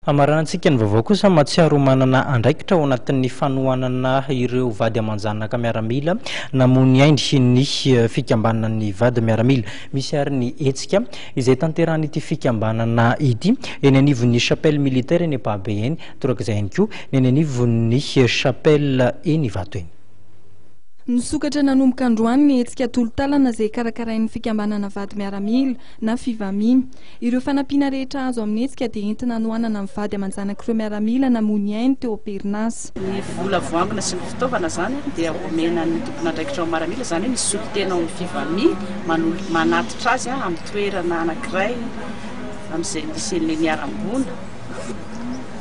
Hamaranantsika ny vaovao kosa, Mahatsiaro ho manana andraikitra ao anatin'ny fanohanana ireo vady aman-janaka miaramila namono ainy ny fikambanan'ny vady miaramila. Misy àry ny hetsika izay tanterahan'ity fikambanana ity eny anivon'ny Chapelle militaire eny Ampahabe eny, torak'izay ihany koa ny eny anivon'ny Chapelle eny Ivato eny. Nisokatra nanomboka androany ny hetsika tolo-tàlana izay karakarain'ny fikambanana vady miaramila na Fivami. Ireo fanampiana rehetra azo amin'ny hetsika dia entina hanohanana ny vady aman-janak'ireo miaramila namoy ny ainy teo am-perinasa. Ny vola voangona sy ny fitaovana izany dia omena ny tompon'andraikitra ao amin'ny miaramila, izany hoe misolo tena ao amin'ny FIVAMI, manatitra azy amin'ny toerana anankiray amin'izay misy an'ilay niharam-boina.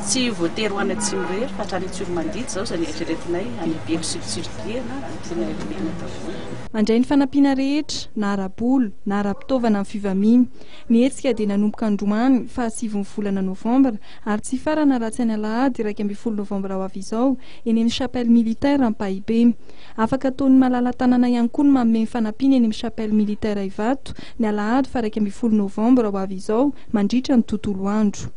Tsy voatery ho any Atsimo irery fa hatrany Antsiromandidy izao izay noeritreretinay, any Belo sy Fitsirodiana no tianay homena tavola. Malagasy. Mandray ny fanampiana rehetra, na ara-bola, na ara-pitaovana amin'ny fivamiany. Ny hetsika dia nanomboka androany faha sivin'ny volana novambra ary tsy hifarana raha tsy any alahady iraika ambin'ny folo novambra ho avy izao eny amin'ny Chapelle Militaire Ampahibe. Afaka ataon'ny malala-tanana ihany koa ny manome ny fanampiany eny amin'ny Chapelle Militaire Ivato ny alahady faha iraika ambin'ny folo novambra ho avy izao mandritra ny tontolo andro.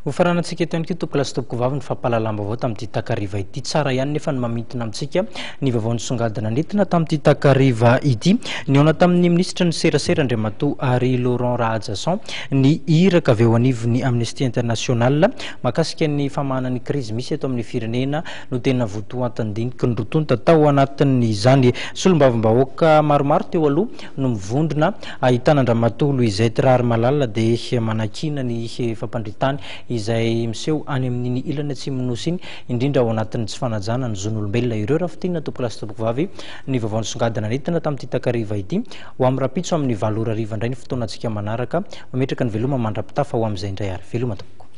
Hofaranantsika eto ihany koa tompokolahy sy tompokovavy ny fampahalalam-baovao tamin'ity takariva ity. Tsara ihany nefa ny mamintina amintsika ny vaovao nisongadina nentina tamin'ity takariva ity. Nihaona tamin'ny minisitry ny serasera Andriamatoa Harry Laurent Rahajason ny iraka avy eo anivon'ny Amnesty International mahakasika ny famahana ny krizy misy eto amin'ny firenena no tena votoatin-diniky ny roa tonta tao anatin'izany. Solombavambahoaka maromaro teo aloha no mivondrona ahitana an-dramatoa Louisette Raharimalala dia manakiana ny fampandritany izay miseho any amin'iny ilany atsimon'ny Nosy iny indrindra ao anatin'ny tsy fanajana ny zon'olombelona ireo Rafitinina tompolahy sy tompokovavy ny vaovao nisongadina nentina tamin'ity takariva ity ho amin'ny rahampitso amin'ny valo ora hariva indray ny fotoana antsika manaraka mametraka ny veloma mandra-pitafa ho amin'izay indray ary veloma tompoko.